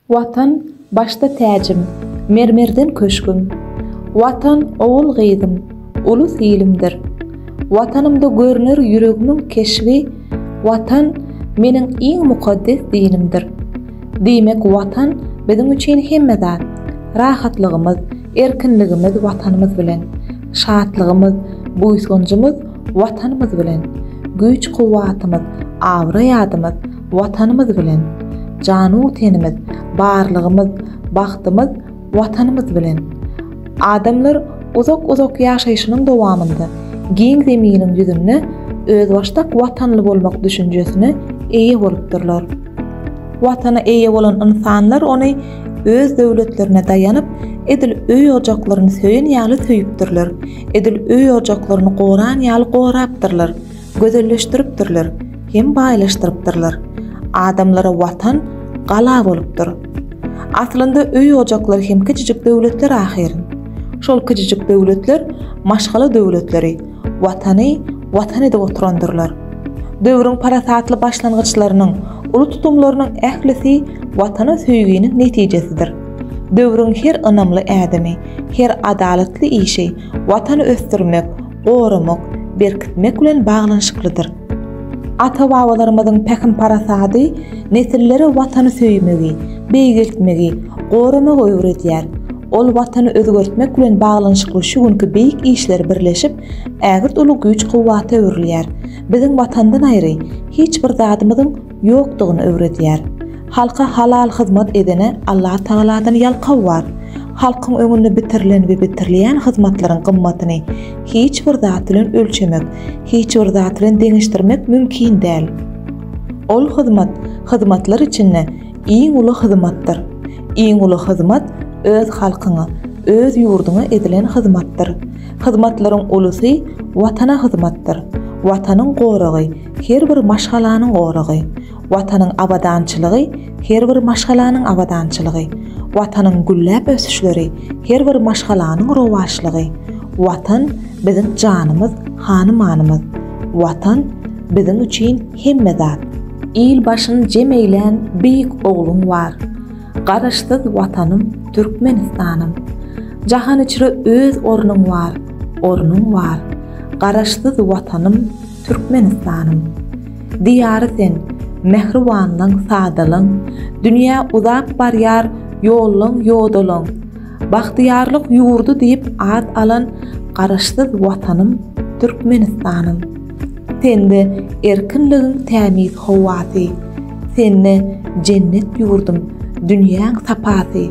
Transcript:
Watan, başda täjim, mermerden köşgüm. Watan, ogul-gyzym, ulus ilimdir. Watanymda görner ýüregimiň keşbi, Watan, meniň iň mukaddes dinimdir. Diýmek, Watan, biziň üçin hemme zat. Rahatlygymyz, erkinligimiz Watanymyz bilen. Şatlygymyz, buýsanjymyz Watanymyz bilen. Güýç-kuwwatymyz, abraý-adymyz. Watanymyz bilen. Janu-tenimiz, barlygymyz, bagtymyz Watanymyz bilen. Adamlar uzak-uzak ýaşaýşynyň dowamynda giň Zeminiň ýüzünde özbaşdak watanly bolmak düşünjesine eýe bolupdyrlar. Watana eýe bolan ynsanlar ony öz döwletlerine daýanyp, edil öý-ojaklaryny söýen ýaly söýüpdirler, edil öý-ojaklaryny goran ýaly gorapdyrlar. Gözelleşdiripdirler hem baýlaşdyrypdyrlar. Adamlara watan gala bolupdyr. Aslynda öý-ojaklar hem kiçijik döwletler ahyr. Şol kiçijik döwletler maşgala döwletleri, watany watan edip oturandyrlar. Döwrüň parasatly başlangyçlarynyň, uly tutumlarynyň ählisi watana söýginiň netijesidir. Döwrüň her ynamly ädimi, her adalatly işi watany ösdürmek, goramak, berkitmek bilen baglanyşyklydyr. Ata-babalarymyzyň pähim-parasady nesillere Watany söýmegi, beýgeltmegi, goramagy öwredýär. Ol Watany özgertmek bilen baglanyşykly şu günki beýik işler birleşip, ägirt uly güýç-kuwwata öwrülýär. Biziň Watandan aýry, hiç bir zadymyzyň ýokdugyny öwredýär. Halka halal hyzmat edene Allatagaladan ýalkaw bar. Halkyň öňünde bitirilen we bitirilýän hyzmatlaryň gymmatyny hiç bir zat bilen ölçemek, hiç bir zat bilen deňeşdirmek mümkin däl. Ol hyzmat, hyzmatlar içinde iň uly hyzmatdyr. Iň uly hyzmat öz halkyňa, öz ýurduňa edilen hyzmatdyr. Hyzmatlaryň ulusy Watana hyzmatdyr. Watanyň goragy, Her bir maşgalanyň goragy, Watanyň abadançylygy, Her bir maşgalanyň abadançylygy, Watanyň gülläp ösüşleri, Her bir maşgalanyň rowaçlygy, Watan, biziň janymyz, hany-manymyz, Watan, biziň üçin hemme zat. Il başyn jem eýlän beýik ogluň bar, Garaşsyz Watanym, Türkmenistanym! Jahan içre öz ornuň bar, ornuň bar, Garaşsyz Watanym, Türkmenistanym. Diýary sen, mähribanlyň, sadalyň, Dünýä uzap barýar ýollyň, ýodalaň. Bagtyýarlyk ýurdy diýip at alan Garaşsyz Watanym, Türkmenistanym. Sende erkinligiň tämiz howasy, Sende jennet ýurdum, dünýäň sapasy.